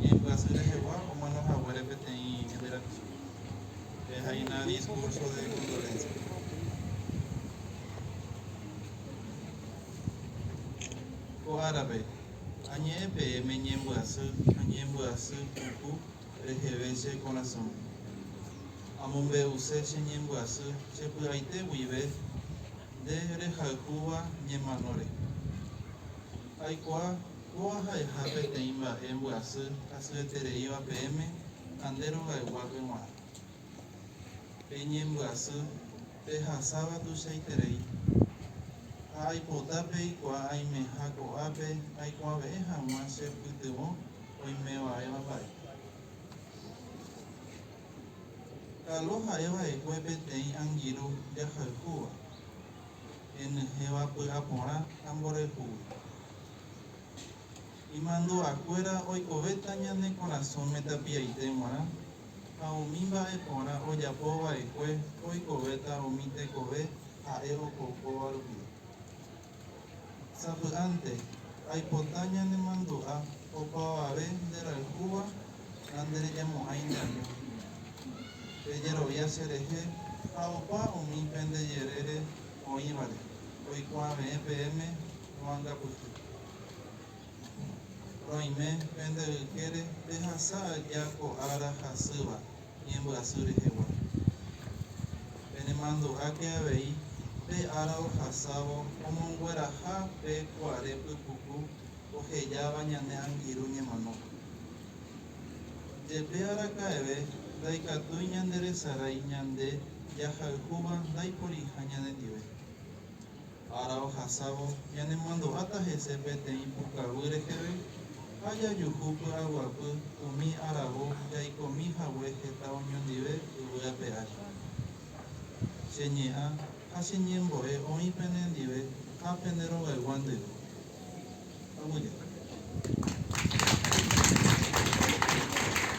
Ñembyasy rehegua omano haguére peteĩ ñembyra'y. Pehaina discurso de condolencia. Ko árape, añe'ẽ peẽme ñembyasy ha ñembyasy puku reheve che korasõme. Amombe'use che ñembyasy che py'aite guive nde rehayhúva ñemanóre. Aikuaa Kóva ha'eha peteĩ mba'e mbyasy hasyetereíva peẽme ha nde rogaygua peguã. Peñembyasy, pehasáva tuichaiterei. Ha aipota peikuaa aimeha ko'ápe aikuave'ẽ hag̃ua che pytyvõ oimeva'éva mba'e. Kalo ha'eva'ekue peteĩ angirũ jahayhúva, henyhẽva py'a porã ha mborayhúgui. Imandu'akuéra oikovéta ñane korasõme tapiaite g̃uarã, ha umi mba'e porã ojapo va'ekue oikovéta umi tekove ha'e opoukóva rupi. Sapy'ánte, aipota ñanemandu'a opavave nderayhúva ha nderejamo'ãi neaño. Pejerovia cherehe ha opa umi pende jerére oĩvare oikuave'ẽ peẽme. Roangapyhy. Roime pende ykére pehasa aja ko ára hasýva ñembyasy rehegua. Penemandu'áke avei pe ára ohasávo omongueraha pe kuare pypuku ohejáva ñane angirũ ñemanópe. Jepe araka'eve ndaikatúi ñanderesarái ñande jahayhúva ndaiporiha ñanendive. Ára ohasávo, ñanemandu'áta hese peteĩ pukaguy reheve ha jajuhu py'aguapy umi aravo jaikomi hague heta oñondive yvy ape ári. Che Ñe'ã ha che Ñembo'e oĩ penendive ha pene rogaygua ndive. Aguyje.